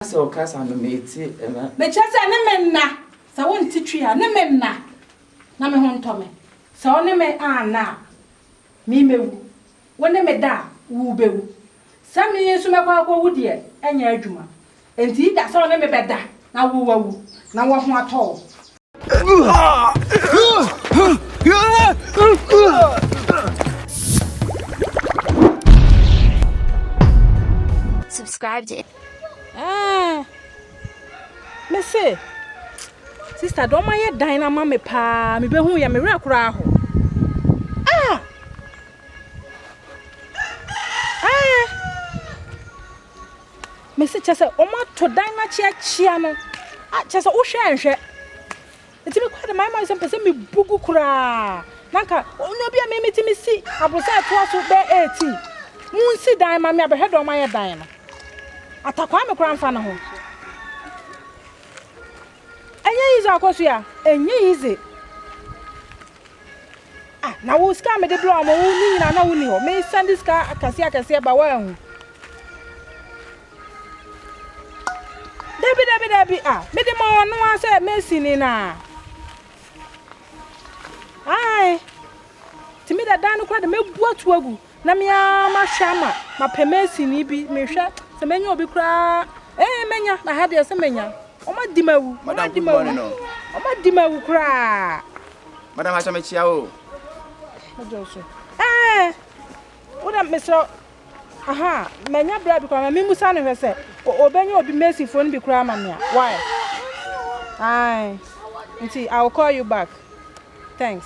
sɛ ɔkasa no mete ɛna. Mekyerɛ sɛ ne me nna, sɛ wo nte twi a, ne me nna na me ho ntɔ me. Sɛ wo ne me anna a, me mɛwu. Wo ne me da a, wo bɛwu. Sɛ me nso mɛkɔ akɔwu deɛ, ɛnyɛ adwuma. Enti either sɛ wo ne me bɛda na wo wawu na wo ho atɔ wo, Subscribe to it. Ah. Me say, sister, don't my dine na mama pa. Me be hu ya me re kura ho. Ah. Ah. Mese kyɛ sɛ wɔn ato dan no akyeakyea no a kyɛ sɛ wohwɛ anhwɛ nti mekɔ de mayɛ ma sɛ mpɛ sɛ mebu gu koraa na nka ɔnyɛ bi a me mete me si aborosa ɛtoa so bɛɛ ɛɛti mu nsi dan ma me abɛhwɛ dɔn ma yɛ dan no atakwaa me koraa mfa no ho Ɛnyɛ yidze akosua, ɛnyɛ yidze. Ah, na wo sika a mede brɛ wo ama wo no nyina na wo ni hɔ. Me san de sika akɛseɛ akɛseɛ ba woanhu. Dabi dabi dabi ah, mede ma wɔn no ara sɛ mɛsini na. Ae, tumi da dan no kora de mɛbu ato agu. Na me ara mahwɛ ama mapɛ masini bi mehwɛ sɛ mɛnya obi koraa ee mɛnya na ha deɛ sɛ mɛnya wɔn adi ma awu wɔn adi ma awu wɔn adi ma awu koraa. madam ahyɛ me kyia o. ɛdɔ so ɛɛ wodɛ mesrɛ aha mɛnya bra bi koraa ma memusa no hwɛ sɛ ɔbɛnya obi masifoɔ no bi koraa ma me a why ae nti I will call you back thanks.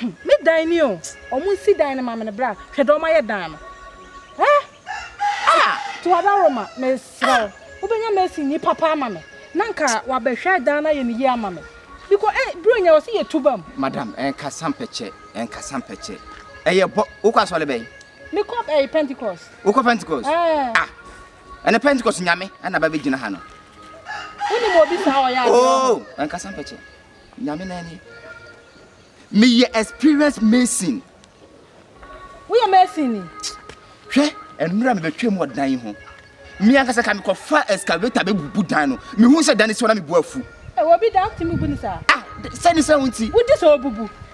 Hum me dan ni o ɔmo nsi dan no ma me no bra hwɛ deɛ ɔmo ayɛ dan no eh ah Tuadaroma mesrɛ wo wobɛnya mason ni papa ama me na nka wabɛhwɛ dan no ayɛ no yie ama me because eh Buronya wɔse yɛ tu bam. Madam ɛnkasa mpɛkyɛ ɛnkasa mpɛkyɛ ɛyɛ bɔ wokɔ asɔre bɛn. Mekɔ ɛyi Pentecost. Wokɔ Pentecost ɛɛ ah ɛnɛ Pentecost nyame ɛna ba bɛgyina ha no. Wonim obi saa ɔyɛ adeɛ. Oh ɛnkasa mpɛkyɛ. Nyame na ni. Me yɛ experience mason. Wo yɛ mason ni? Hwɛ, ɛnura me bɛ twɛ mu wɔ dan yi ho. Me ankasa ka me kɔ fa excavator bɛ bubu dan no. Me hu sɛ dan no si hɔ na me bu afu. Ɛ wɔ bi dan ti mu bu ni saa. Ah, sɛ ni sɛ wo nti. Wo di sɛ o bubu.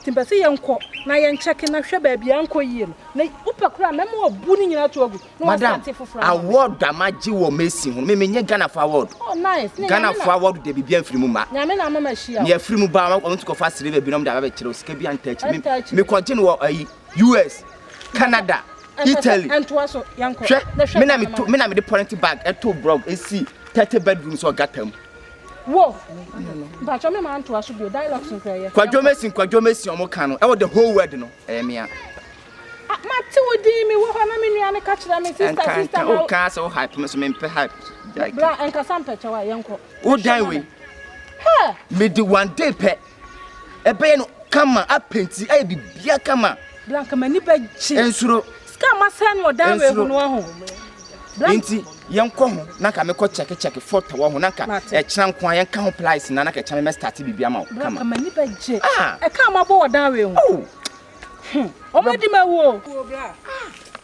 Nti mpɛ sɛ yɛnkɔ na yɛn kyɛke na hwɛ baabi a ɛnkɔ yie no na wopɛ koraa mɛma wabu ne nyinaa to agu na wasate foforɔ ama me. Award a magye wɔ Mason ho no, me menyɛ Ghana fo award. Oh nice, ne Ghana fo award de biribi amfiri mu ma. Nyame na ama mahyia wo. Nea afiri mu ba, wɔn nso kɔfa silver bi na wɔn de aba bɛkyerɛ wo, sika bi antaa akyire. Me me kɔgye no wɔ ayi US, Canada, Italy. Ɛntoa so, yɛnkɔ. Hwɛ, me na me to, me na me de polythene bag ɛto blog esi thirty bedrooms wɔ gutter mu. Wo. Mpacho me man to aso bio dialogues nkra ye. Kwadwo mesin kwadwo mesin omo ka no. E wo the whole world no. E me a. Ah, ma te wo din me wo ho na me nua ne ka kyerɛ me sister sister ma. O ka se wo hype me so me mpe hype. Bra enkasa mpɛkyɛ wa yenko. Wo dan we. He. Me di one day pɛ. Ɛbɛyɛ no kama, apenti, ayɛ biribiara kama. Blank m'ani bɛgye. Ensuro. Sika a masɛe no wɔ dan wei ho no wahu. Blank. Nti yɛnkɔ ho na nka mekɔ kyɛke kyɛke fɔtɔ wɔ ho na nka ɛkyena nko a yɛnka ho plies na na kɛkyɛ me mɛstarte biribi ama wo kama. Blank m'ani bɛgye. Ah. Ɛka a mabɔ wɔ dan wei ho. Oh. Hmm. Ɔmo adi mawu o. Bra. Ah.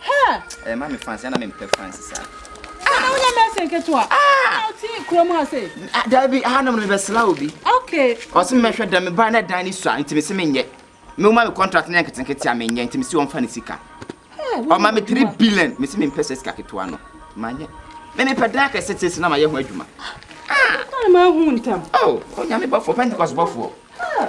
Her. Ɛyɛ ma me fancy, ana me mpɛ fancy saa. Ah, na wonyɛ mɛsɛ nketewa. Ah! Na wote kura mu ase. Ah, dabi, ah, na mebɛ sla obi. Okay. Ɔse mɛhwɛ dan, me ba na dan ni sua, nti me se menyɛ. Me woma me contract na nkete nkete a menyɛ, nti me se wɔmfa ne sika. Ɔma me 3 billion, me se me mpɛ sɛ sika ketewa no. Manyɛ. Me me pɛ dan akɛse te se na mayɛ ho adwuma. Ah! Ɔtɔ ma hu ntam. Oh, onyame bɔfoɔ, Pentecost bɔfoɔ. Ah!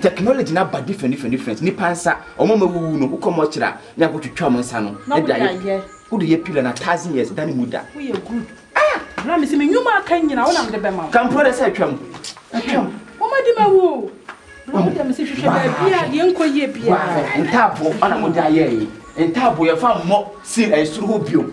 Technology no aba different different different nipa nsa ɔmo a mawuwu no wokɔ mɔkyerɛ a ne akɔ twitwa ɔmo nsa no na de ayɛ wode yɛ pillar na thousand years da ne mu da. Woyɛ good ah bra mese me nwuma aka nyina wona mede bɛma wo. Kampro dɛ sɛ atwam atwam. Ɔmo adi ma wo o bra wo dɛ mese hwehwɛ baabi a deɛ nkɔ yie biara. Ntaabo ɔna mode ayɛ yi ntaabo yɛfa mmɔ seal ɛsoro hɔ bio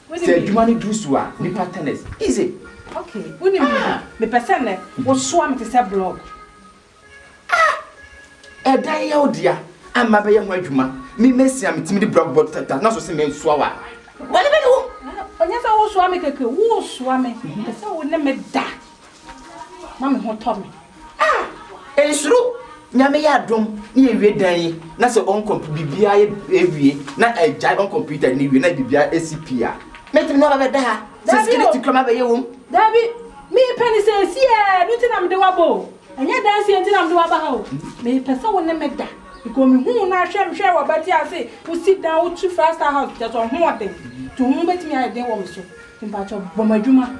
Sɛ adwuma no duru so a, nnipa tennis. Easy. Okay, wonim biribi? Ah! Mepɛ sɛ nnɛ wosoa me te sɛ blog. Ah! Ɛdan yɛ wo dea, a mabɛyɛ ho adwuma. Me mesi a metumi de blog bɔ tata na so se mensoa wo a, bɔne bɛne wo? Ah, ɛnyɛ sɛ wosoa me kɛkɛ, wosoa me. Mepɛ sɛ wo ne me da. na me ho tɔ me. Ah! Nsuro, Nyame yɛ adom na yɛwie dan yi na sɛ ɔnkɔ biribiara yɛ ɛwie na agyae ɔn computer no wie na biribiara ɛsi pii a mɛtumi ne wabɛda ha sɛ security kura mabɛyɛ wom. Daabi, mepɛ no sɛ ɛsi yɛ no nti na mede waba o, ɛnyɛ dansi yɛ nti na mede waba ha o, mepɛ sɛ wo ne me da because me huu no ahwɛ me hwɛ wabati ase wo sit down wo tu five star house kyerɛ sɛ ɔhoɔden nti ho bɛtumi ayɛ den wɔ me so nti mpakyɛ bɔ m'adwuma.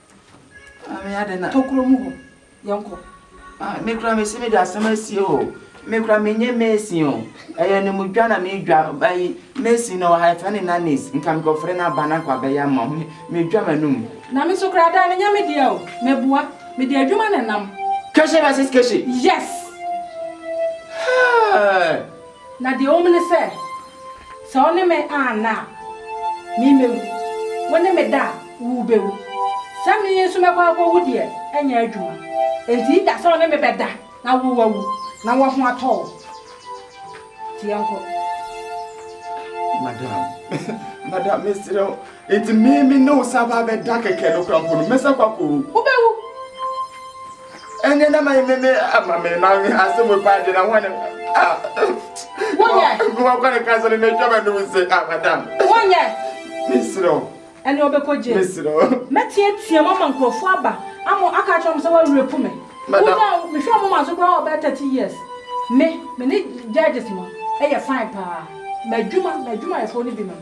Maame adan na tokuro mu hɔ yɛnkɔ. Ah me koraa mese mede asɛm asie o me koraa menyɛ mason o ɛyɛ anamudwa na medwa ayi mason na ɔha ɛfɛ ne nannies nka mekɔfrɛ no aba no akɔ abɛyɛ ama me medwa m'anum. Na me nso koraa dan no nyɛ me deɛ o meboa mede adwuma na ɛnam. Keshi versus Keshi. Yes. Hey. Na deɛ ɛwɔ mu ne sɛ, sɛ wo ne me anna a, me mɛwu, wo ne me da a, wo bɛwu. Sɛ me nso mɛkɔ akɔwu deɛ, ɛnyɛ adwuma. Enti da sɛ wo ne me bɛda na wo woawu na wo ho atɔ wo. Nti yɛnkɔ. Madam, madam, mesrɛ wo, enti me me ne wo san aba abɛda kɛkɛ no koraa mpo no, mɛsan kɔ akɔwu? Wobɛwu. Ɛnyɛ na ma me me ama me ma me asem we pa de na ho ne. Wonyɛ. Mo kwa ne kasa ne na twama no se ah madam. Wonyɛ. Misro. Ɛne ɔbɛkɔgye. Misro. Mɛteatea mo ama nkurɔfoɔ aba ama aka akyerɛ mo sɛ wɔarepu me. Wonya mehwɛ mo ma so koraa ɔbɛyɛ 30 years. Me, me ne judges no yɛ fine paa. M'adwuma, m'adwumayɛfoɔ no binom.